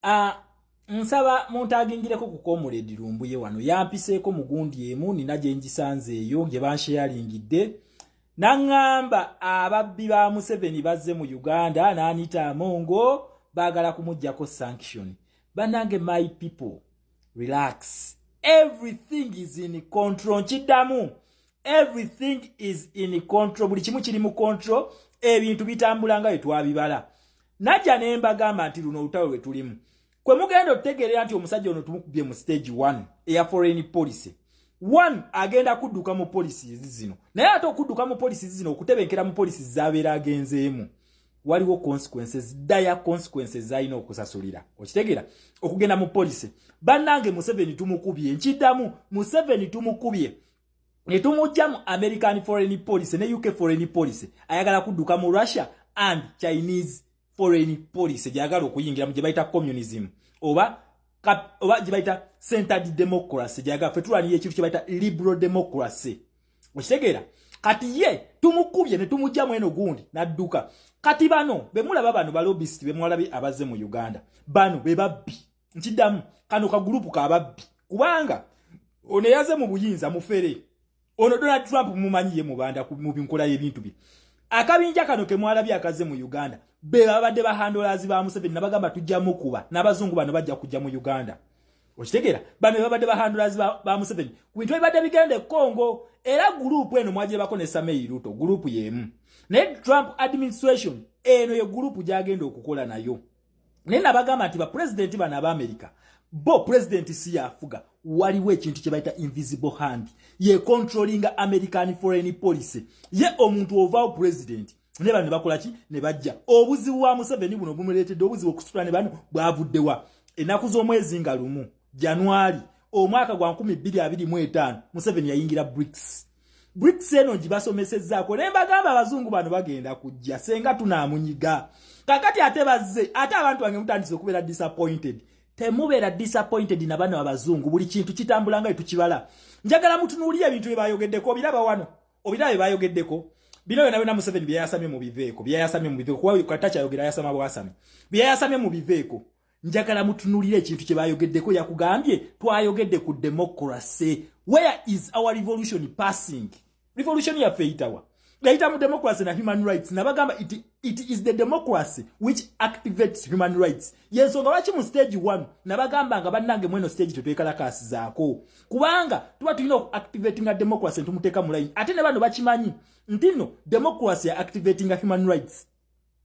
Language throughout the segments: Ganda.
Ah, nsaba muntagingireko ku comrade lumbuye wano yampiseeko mugundi emu nina gye ngisanze eyo gye bansheyalingidde naŋŋamba ababbi ba museveni bazze mu uganda n'anita amongo baagala kumuggyako sanction banange my people relax everything is in control nkiddamu everything is in control buli kimu kiri mu control ebintu bitambula nga bye twabibala najja ne mbagamba nti luno olutalo lwe tulimu kwe mugenda otutegeerera nti omusajja ono tumukubye mu stage one eya foreign policy one agenda kudduka mu polisi zino naye ate okudduka mu polisi zino okutebenkera mu polisi zabeera agenzeemu waliwo consequences daya consequences zalina okusasulira okitegeera okugenda mu polisi bannange museveni tumukubye nkiddamu museveni tumukubye netumujja mu american foreign policy ne uk foreign policy ayagala kudduka mu russia and chinese foreign policy gyagala okuyingira mu gyebayita communism oba oba gyebayita centered democracy gyagala fe tulwaniyo ekintu kyebayita liberal democracy okitegeera kati ye tumukubye ne tumujja mweno gundi nadduka kati bano bemulaba bano balobisiti bemwalabi abaze mu uganda bano bebabbi nkidamu kano ka group ka babbi kubanga ono yaze mu buyinza mufere ono Donald Trump mumanyiye mubanda mu binkola y'ebintu bi akabinja kano ke mwalabye akaze mu Uganda be babadde ba handlers ba Museveni nabagamba tujja mukuba nabazungu bano bajja kujja mu Uganda okitegera bano babadde ba handlers ba, ba Museveni ku bintu ebibadde bigenda e Congo era group eno mwagyebako ne Samei Ruto group y'emu naye Trump administration eno ye group gyagenda okukola nayo naye nabagamba nti bapulezidenti bano aba amerika bo pulezidenti si yafuga waliwo ekintu kye bayita invisible hand ye controllinga american foreign policy ye omuntu ovaawo pulezidenti ne bano ne bakola ki ne bajja obuzibu bwa museveni buno bumuleetedde obuzibu okusitula ne bano bwavuddewa ennaku z'omwezi nga lumu januari omwaka gwa 225 museveni yayingira brics bricks eno gibasomesezzaako naye mbagamba abazungu bano bagenda kujja senga tunaamunyiga kakati ate bazze ate abantu bange mutandise okubeera disappointed temubeera disappointed na bano abazungu buli kintu kitambula nga etukibala njagala mutunuulire ebintu bye bayogeddeko obiraba wano obiraba bye bayogeddeko bino byona byona museveni byeyayasamye mu biveeko byeyayasamye mu biveeko kuba katakyayogera yasama bwasami byeyayasamye mu biveeko njagala mutunulira ekintu kye bayogeddeko yakugambye twayogedde ku democracy where is our revolution passing revolution yaffe eyitawa yayita mu democracy na human rights nabagamba it, it is the democracy which activates human rights yensonga lwaki mu stage one nabagamba nga bannange mweno stage tetwekalakaasizaako kubanga tuba tulina okuactivatinga democracy ntumuteeka mu line ate ne bano bakimanyi ntino democracy ya activatinga human rights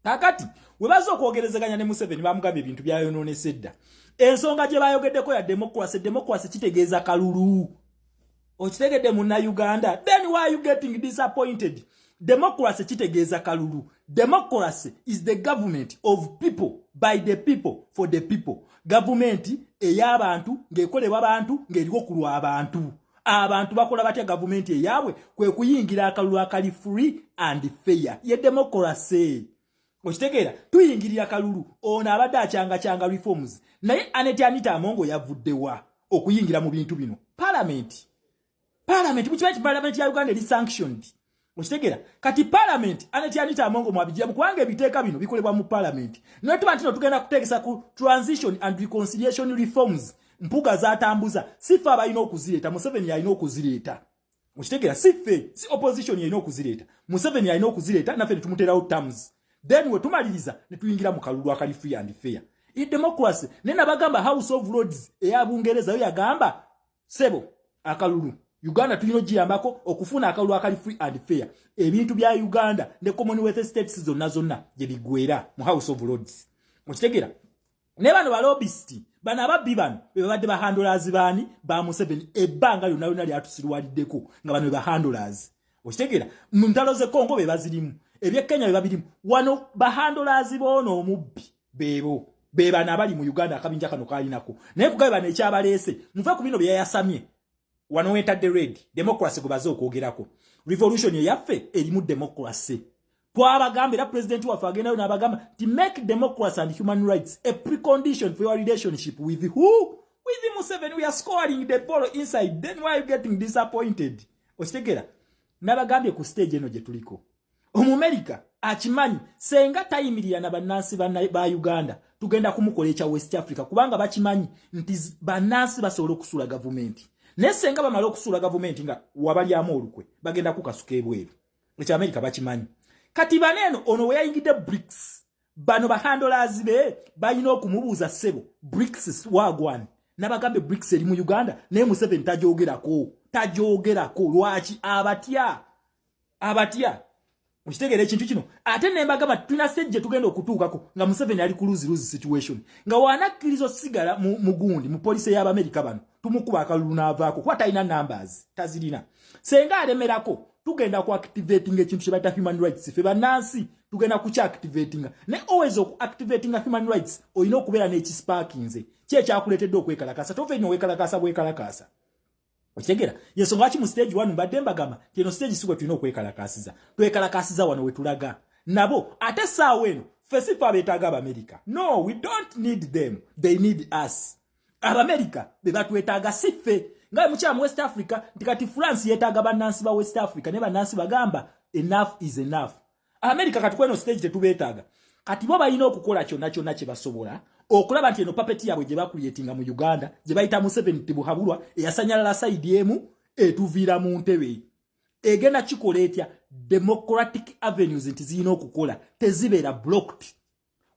kakati webaza okwogerezeganya ne museveni bamugambye ebintu byayononesa edda ensonga gye bayogeddeko ya demokrasi demokrasi kitegeeza kalulu okitegedde muna uganda then why you getting disappointed demokrasi kitegeeza kalulu demokrasi is the government of people by the people for the people gavumenti ey'abantu ng'ekolebwa bantu ng'eriwo ku lw'abantu abantu bakola batya gavumenti eyaabwe kwe kuyingira akalulu akali free and fair ye demokorase okitegeera tuyingirira kalulu ono abadde akyangakyanga reforms naye aneti anita amongo yavuddewa okuyingira mu bintu bino palamenti palamenti mukimanyi ti palamenti ya uganda eri sanctioned Okitegera kati parliament anati anita amongo mwabijja kubanga ebiteeka bino bikolebwa mu parliament naye tuba ntino tugenda kuteekesa ku transition and reconciliation reforms mpuga zatambuza sifa abalina okuzireeta museveni yalina okuzireeta okitegera sife si opposition yalina okuzireeta museveni yalina okuzireeta naffe netumuteerawo terms then wetumaliriza netuyingira mu kalulu akali free and fair e democracy naye nabagamba house of lords eya bungereza yo yagamba sebo akalulu uganda tulina ogiyambako okufuna akalulu akali free and fair ebintu bya uganda ne commonwealth states zonna zonna gye bigwera mu house of lords okitegera naye bano balobisiti bano ababbi bano bebabadde bahandolazi baani ba museveni ebbanga lyonna lyonna lyatusirwaliddeko nga bano bebahandolazi okitegera mu ntalo ze congo bebazirimu ebyekenya bebabirimu wano bahandolazi boona omubbi bebo bebano abali mu uganda akabinja kano kalinako naye kugabe bano ekyabaleese muve ku bino byeyayasamye wano wentadde red democracy gwebaze okwogerako revolution eyaffe erimu democracy twabagamba era pulezidenti waffe agendayo n'abagamba ti make democracy and human rights a precondition for your relationship with who with museven we are scoring the ball inside then why are you getting disappointed okitegera nabagambye ku stage eno gye tuliko omumerika akimanyi senga tayimirira na bannansi ba uganda tugenda kumukola ekya west africa kubanga bakimanyi nti bannansi basobola okusuula gavumenti naye senga bamala okusuula gavumenti nga wabalyamu olukwe bagenda kukasuka ebweru ekyo amerika bakimanyi kati bano eno ono weyayingidde brics bano bahandolazi be balina okumubuuza ssebo brics wagwani nabagambe brics eri mu uganda naye museveni tajogerako tajogerako lwaki abatya abatya okitegeera ekintu kino ate nembagamba tulina sejje tugenda okutuukako nga museveni ali ku luzi luzi situation nga wanakkiriza osigala mugundi mu polisi ey'abamerika bano tumukuba akalulu n'avaako kuba talina numbers tazirina senga alemerako tugenda ku activating ekintu kye bayita human rights fe bannansi tugenda kukya activatinga ne always oku activatinga human rights olina okubeera n'ekisparkinze ki ekyakuleetedde okwekalakaasa tova enyo wekalakaasa bwekalakaasa Okitegera? Yesu ngaki mu stage 1 mbadde mbagamba kino stage siwe tulina okwekalakaasiza. Twekalakaasiza wano we tulaga. Nabo ate saawa eno fesi fa betaaga Abamerika. No, we don't need them. They need us. Abamerika be batwetaaga si ffe. Nga mukyala mu West Africa nti kati France yetaaga bannansi ba West Africa ne bannansi bagamba enough is enough. America kati kweno stage tetubetaaga kati bo balina okukola kyonna kyonna kye basobola okulaba nti eno papeti yaabwe gye bakuyetinga mu uganda gye bayita museveni tibuhabulwa eyasanyalala saidi emu etuviira mu ntebe egenda kikola etya democratic avenues nti zirina okukola tezibeera blocked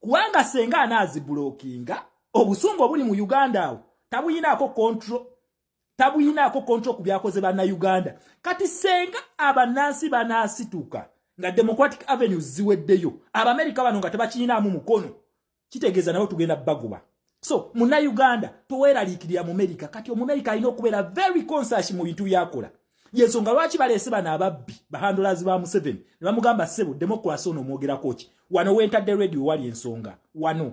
kubanga senga anaazibulokinga obusungu obuli mu uganda awo tabuyinaako control tabuyinaako kontro ku byakoze bannayuganda kati senga abannansi banaasituka nga democratic avenues ziweddeyo abamerica bano nga tebakiyinaamu mukono kitegeeza nabo tugenda bagoba so munayuganda toweraliikirira mumerika kati omumerika alina okubeera very conscious mu bintu byakola yensonga lwaki baleese bano ababbi bahandulazi ba museveni ne bamugamba sebo democracy ono omwogerako ki wano wentadde radio wali ensonga wano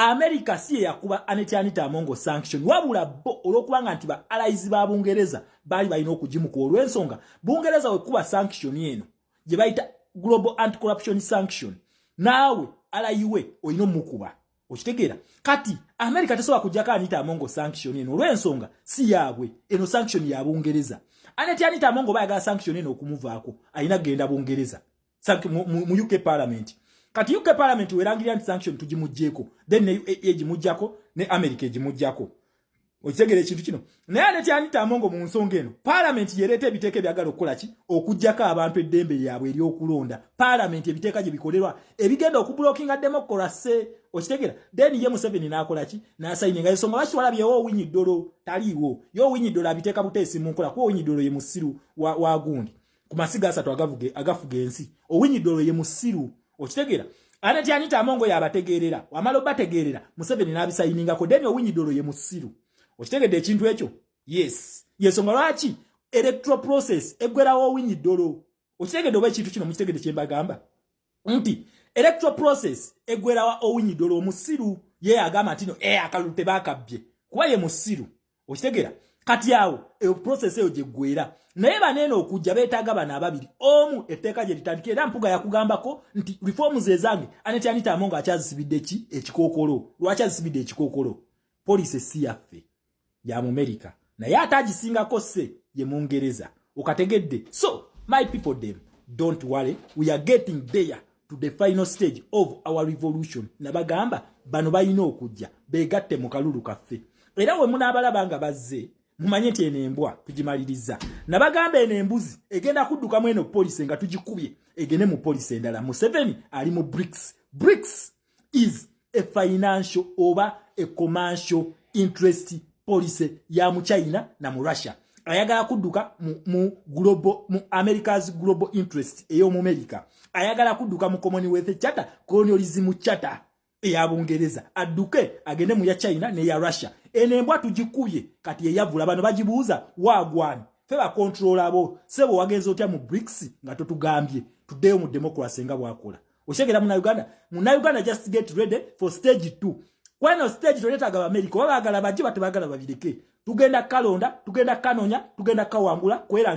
America si eyakuba Aneti Anita Amongo sanction wabula bo olwokubanga nti ba allies ba Bungereza baali balina okugimuka olw'ensonga Bungereza wekuba sanction eno gye bayita Global Anti Corruption Sanction naawe alayiwe olina omukuba okitegeera kati america tesobola kujjako anita amongo sanction eno olw'ensonga si yaabwe eno sanction ya bungereza aneti anita amongo oba yagala sanction eno okumuvaako alina kugenda bungereza sanction mu, mu, mu UK parliament kati UK parliament werangirira nti sanction tugimujjeko then ne UAE egimujjako ne America egimujjako okitegera ekintu kino naye ate kyanita amongo mu nsonga eno palamenti yereeta ebiteeka ebyagala okukola ki okugjako abantu eddembe lyabwe eryokulonda palamenti ebiteeka gye bikolerwa ebigenda okubulokinga demokolase okitegera then ye museveni nakola ki nasayini nga ensonga lwaki twalabye yo owinyi ddolo taliiwo yo owinyi ddolo abiteeka buteesi mu nkola kuba owinyi ddolo ye musiru wa, wa gundi ku masiga asatu agavuge agafuga ensi owinyidde olwo ye musiru okitegeera ate tyanita amongo yabategeerera wamala obategeerera museveni n'abisayiningako deni owinyidde olwo ye musiru okitegedde ekintu ekyo yes yensonga lwaki electoral process eggwerawo owinyidde olwo okitegedde oba ekintu kino mukitegedde kyembagamba nti electoral process egwerawa owinyidola omusiru ye agamba nti no eh akalulu tebakabbye kuba ye musiru okitegera kati awo eyo process eyo gyegwera naye baneeno okujja beetaaga bano ababiri omu etteeka gye litandikira era mpuga yakugambako nti reforms ezange aneti anitamo nga akyazisibidde ki ekikookolo lwaki azisibidde ekikookolo poliisi si yaffe ya mumerika naye ate agisingako se ye mungereza okategedde so my people them don't worry we are getting there to the final stage of our revolution nabagamba bano balina okujja begatte mu kalulu kaffe era we munaabalaba nga bazze mumanye nti eno embwa tugimaliriza nabagamba eno embuzi egenda kuddukamu eno polisi nga tugikubye egende mu polisi endala museveni ali mu brics brics is a financial oba a commercial interest policy ya mu china na mu russia ayagala kudduka mu, mu, global, mu america's global interest ey'omumerica ayagala kudduka mu commonwealth charter colonialism charter eya bungereza adduke agende mu ya china ne ya russia eno embwa tugikubye kati eyavula bano bagibuuza wagwani fe bakontrola abo sebo wagenza otya mu brics nga totugambye tuddeyo mu democracy nga bwakola Oshegera muna Uganda, muna Uganda just get ready for stage 2. Kweno stage to leta gaba America, wabagala baji batu bagala babireke. Tugenda kalonda, tugenda kanonya, tugenda kawangula, kwela